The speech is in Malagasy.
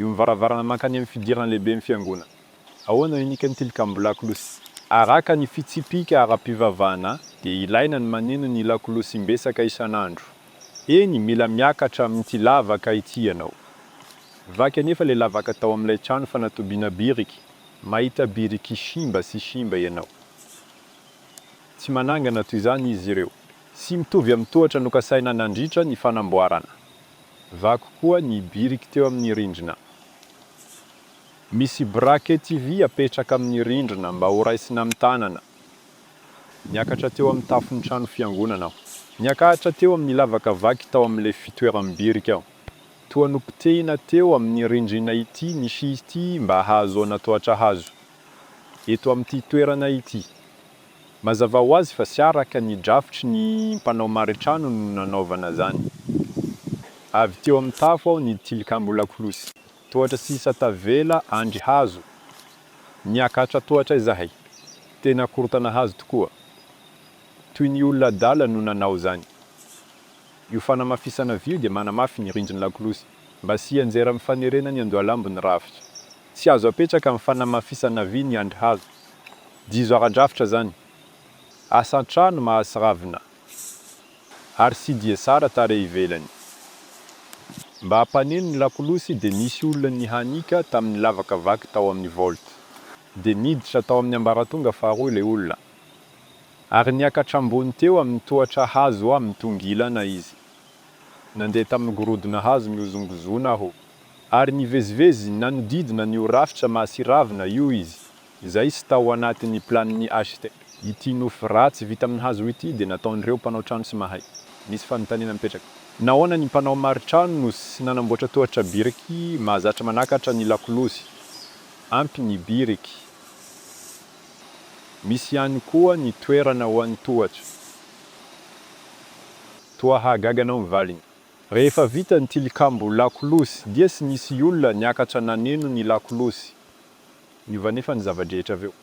Io ny varavarana mankany amin'ny fidirana lehiben'ny Fiangonana. Ahoana no inikan'ny Tilikambo lakolosy? Araka ny fitsipika ara-pivavahana, dia ilaina ny maneno ny lakolosy im-betsaka isan'andro. Eny, mila miakatra amin'ity lavaka ity ianao. Vaky anefa ilay lavaka tao amin'ilay trano fanatobiana biriky, mahita biriky simba sy simba ianao. Tsy manangana toy izany izy ireo. Tsy mitovy amin'ny tohatra nokasaina nandritra ny fanamboarana. Vaky koa ny biriky teo amin'ny rindrina. Misy brakety vy apetraka amin'ny rindrina mba horaisina amin'ny tanana. Niakatra teo amin'ny tafon'ny trano fiangonana aho. Niakatra teo amin'ny lavaka vaky tao amin'ilay fitoeram-biriky aho. Toa nopotehina teo amin'ny rindrina ity misy ity mba hahazoana tohatra hazo. Eto amin'ity toerana ity, Mazava ho azy fa tsy araka ny drafitry ny mpanao maritrano no nanaovana izany. Avy teo amin'ny tafo aho ny tilikambo lakolosy. Tohatra sisa tavela andry hazo. Niakatra tohatra izahay. Tena korontana hazo tokoa. Toy ny olona adala no nanao izany. Io fanamafisana vy io dia manamafy ny rindrin'ny lakolosy mba tsy hianjera amin'ny fanerena ny andohalambo ny rafitra. Tsy azo apetraka amin'ny fanamafisana vy ny andrihazo. Dizo ara-drafitra izany. Asa an-trano mahatsiravina ary CDSR tarehy ivelany. Mba hampaneno ny lakolosy dia nisy olona nihanika tamin'ny lavaka vaky tao amin'ny Volt. Dia niditra tao amin'ny ambaratonga faharoa ilay olona. Ary niakatra ambony teo amin'ny tohatra hazo amin'ny tongilana izy. Nandeha tamin'ny gorodona hazo mihozongozona aho, ary nivezivezy nanodidina an'io rafitra mahasiravina io izy izay sy tao anatin'ny planin'ny HCT. Ity nofy ratsy vita amin'ny hazo ity dia nataon'ireo mpanao trano tsy mahay. Nisy fanontaniana mipetraka. Nahoana ny mpanao maritrano no tsy nanamboatra tohatra biriky mahazatra manakatra ny lakolosy? Ampy ny biriky. Misy ihany koa ny toerana ho an'ny tohatra. Toa hahagaga anao ny valiny. Rehefa vita ny tilikambo lakolosy dia tsy nisy olona niakatra naneno ny lakolosy. Niova anefa ny zava-drehetra avy eo.